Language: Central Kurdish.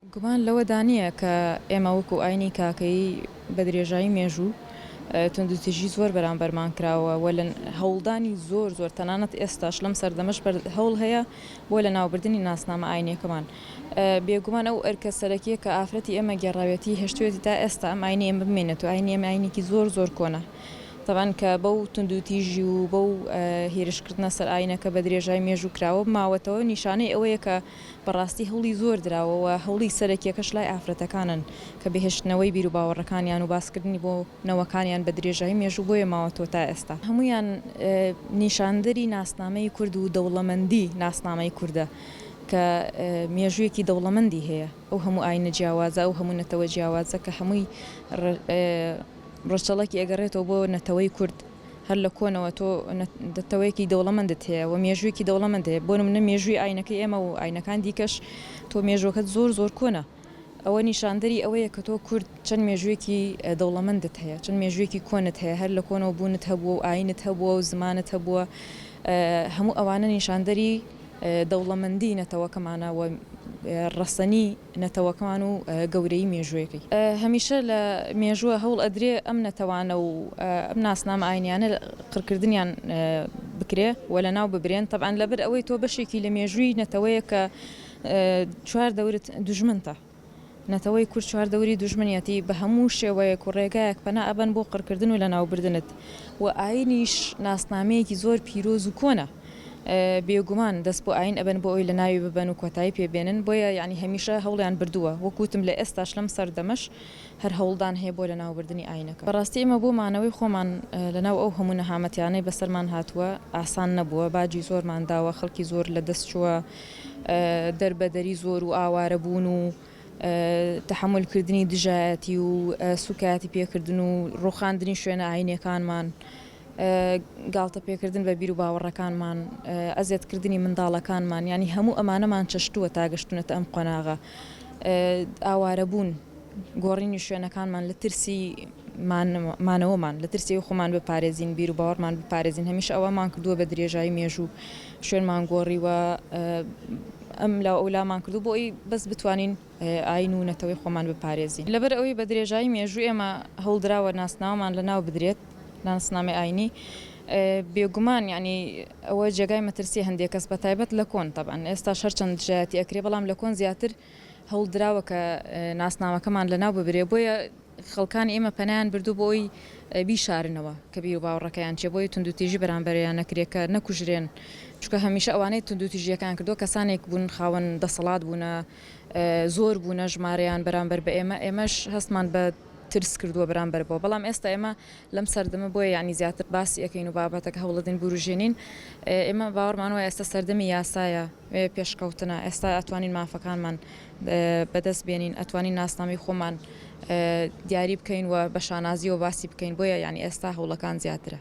گومان لەوەدا نییە کە ئێمە وەکو ئایینی کاکەیی بە درێژایی مێژوو توندوتیژی زۆر بەرامبەرمان کراوە و لە هەوڵدانی زۆر زۆر تەنانەت ئێستاش لەم سەردەمەش هەوڵ هەیە بۆ لەناوبردنی ناسنامە ئایینیەکەمان بێگومان ئەو ئەرکە سەرەکیە کە ئافرەتی ئێمە گێڕاوێتی هێشتوێتی تا ئێستا ئەم ئاینی ئێمە بمێنێت و ئاینی ئێمە ئاینێکی زۆر زۆر کۆنە تەبەن کە بەو توندوتیژی و بەو هێرشکردنە سەر ئاینەکە بە درێژای مێژوو کراوە ماوەتەوە نیشانەی ئەوەیە کە بەڕاستی هەوڵی زۆر دراوە و هەوڵی سەرەکیەکەش لای ئافرەتەکانن کە بهێشتنەوەی بیروباوەڕەکانیان و باسکردنی بۆ نەوەکانیان بە درێژایی مێژوو بۆیە ماوەتەوە تا ئێستا هەموویان نیشاندەری ناسنامەی کورد و دەوڵەمەندی ناسنامەی کوردە کە مێژوویەکی دەوڵەمەندی هەیە ئەو هەموو ئاینە جیاوازە ئەو هەموو نەتەوە جیاوازە کە هەمووی ڕەچەڵەکی ئەگەڕێتەوە بۆ نەتەوەی کورد. هەر لە کۆنەوە تۆ نەتەوەیەکی دەوڵەمەندت هەیە و مێژوویەکی دەوڵەمەند هەیە بۆ نمونە مێژووی ئاینەکەی ئێمە و ئاینەکان دیکەش تۆ مێژووەکەت زۆر زۆر کۆنە ئەوە نیشاندەری ئەوەیە کە تۆ کورد چەند مێژوویەکی دەوڵەمەندت هەیە چەند مێژوویەکی کۆنت هەیە هەر لە کۆنەوە بوونت هەبووە و ئاینت هەبووە و زمانت هەبووە هەموو ئەوانە نیشاندەری دەوڵەمەندی نەتەوەکەمانە و ڕەسەنی نەتەوەکەمان و گەورەیی مێژوویەکەی. هەمیشە لە مێژووە هەوڵ ئەدرێ ئەم نەتەوانە و ئەم ناسنامە ئاینیانە قڕکردنیان بکرێ و لە ناو ببرێن تەبعەن لە بەر ئەوەی تۆ بەشێکی لە مێژووی نەتەوەیەک کە چوار دەورت دوژمنتە نەتەوەی کورد چوار دەوری دوژمنیەتی بە هەموو شێوەیەک و ڕێگایەک پەنا ئەبەن بۆ قڕکردن و لە ناو بردنت و ئاینیش ناسنامەیەکی زۆر پیرۆز و کۆنە. بێگومان دەست بۆ ئاین ئەبەن بۆ ئەوەی لە ناوی ببەن و کۆتایی پێ بێنن بۆیە یانی هەمیشە هەوڵیان بردووە وەکو وتم لە ئێستاش لەم سەردەمەش هەر هەوڵدان هەیە بۆ لە ناو بردنی ئاینەکە. بەڕاستی ئێمە بۆ مانەوەی خۆمان لە ناو ئەو هەموو نەهامەتیانەی بەسەرمان هاتووە ئاسان نەبووە باجی زۆرمان داوە خەڵکی زۆر لە دەست چووە دەر بە دەری زۆر و ئاوارە بوون و تەحەمول کردنی دژایەتی و سوکایەتی پێکردن و ڕوخاندنی شوێنە ئاینیەکانمان گاڵتە پێکردن بە بیر و باوەڕەکانمان، ئەزێت کردنی منداڵەکانمان یانی هەموو ئەمانەمان چەشتووە تا گەشتوونەتە ئەم قۆناغە. ئاوارەبوون، گۆڕینی شوێنەکانمان لە ترسی مانەوەمان، لە ترسی ئەوەی خۆمان بپارێزین، بیر و باوەڕمان بپارێزین، هەمیشە ئەوەمان کردووە بە درێژایی مێژوو شوێنمان گۆڕیوە، ئەم لاو ئەو لامان کردووە بۆ ئەوەی بەس بتوانین ئایین و نەتەوەی خۆمان بپارێزین. لەبەر ئەوەی بە درێژایی مێژوو ئێمە هەوڵدراوە ناسناوەمان لەناو بدرێت، ناسنامەی ئاینی بێگومان یەعنی ئەوە جێگای مەترسیە هەندێک کەس بەتایبەت لە کۆن تەبعەن ئێستاش هەرچەند دژایەتی ئەکرێ بەڵام لە کۆن زیاتر هەوڵ دراوە کە ناسنامەکەمان لەناو ببرێ بۆیە خەڵکانی ئێمە پەنایان بردو بۆ ئەوی بیشارنەوە کە بیر و باوەڕەکەیان چێ بۆیە توندوتیژی بەرامبەریان نەکرێ کە نەکوژرێن چونکە هەمیشە ئەوانەی توندوتیژیەکان کردووە کەسانێک بوون خاوەن دەسەڵات بوونە زۆر بوونە ژمارەیان بەرامبەر بە ئێمە ئێمەش هەستمان بە ترس کردووە بەرامبەر بەوە بەڵام ئێستا ئێمە لەم سەردەمە بۆیە یانی زیاتر باسی ئەکەین و بابەتەکە هەوڵەدەین بوروژێنین ئێمە باوەڕمان وایە ئێستا سەردەمی یاسایە پێشکەوتنە ئێستا ئەتوانین مافەکانمان بەدەست بێنین ئەتوانین ناسنامەی خۆمان دیاری بکەین و بە شانازیەوە باسی بکەین بۆیە یانی ئێستا هەوڵەکان زیاترە.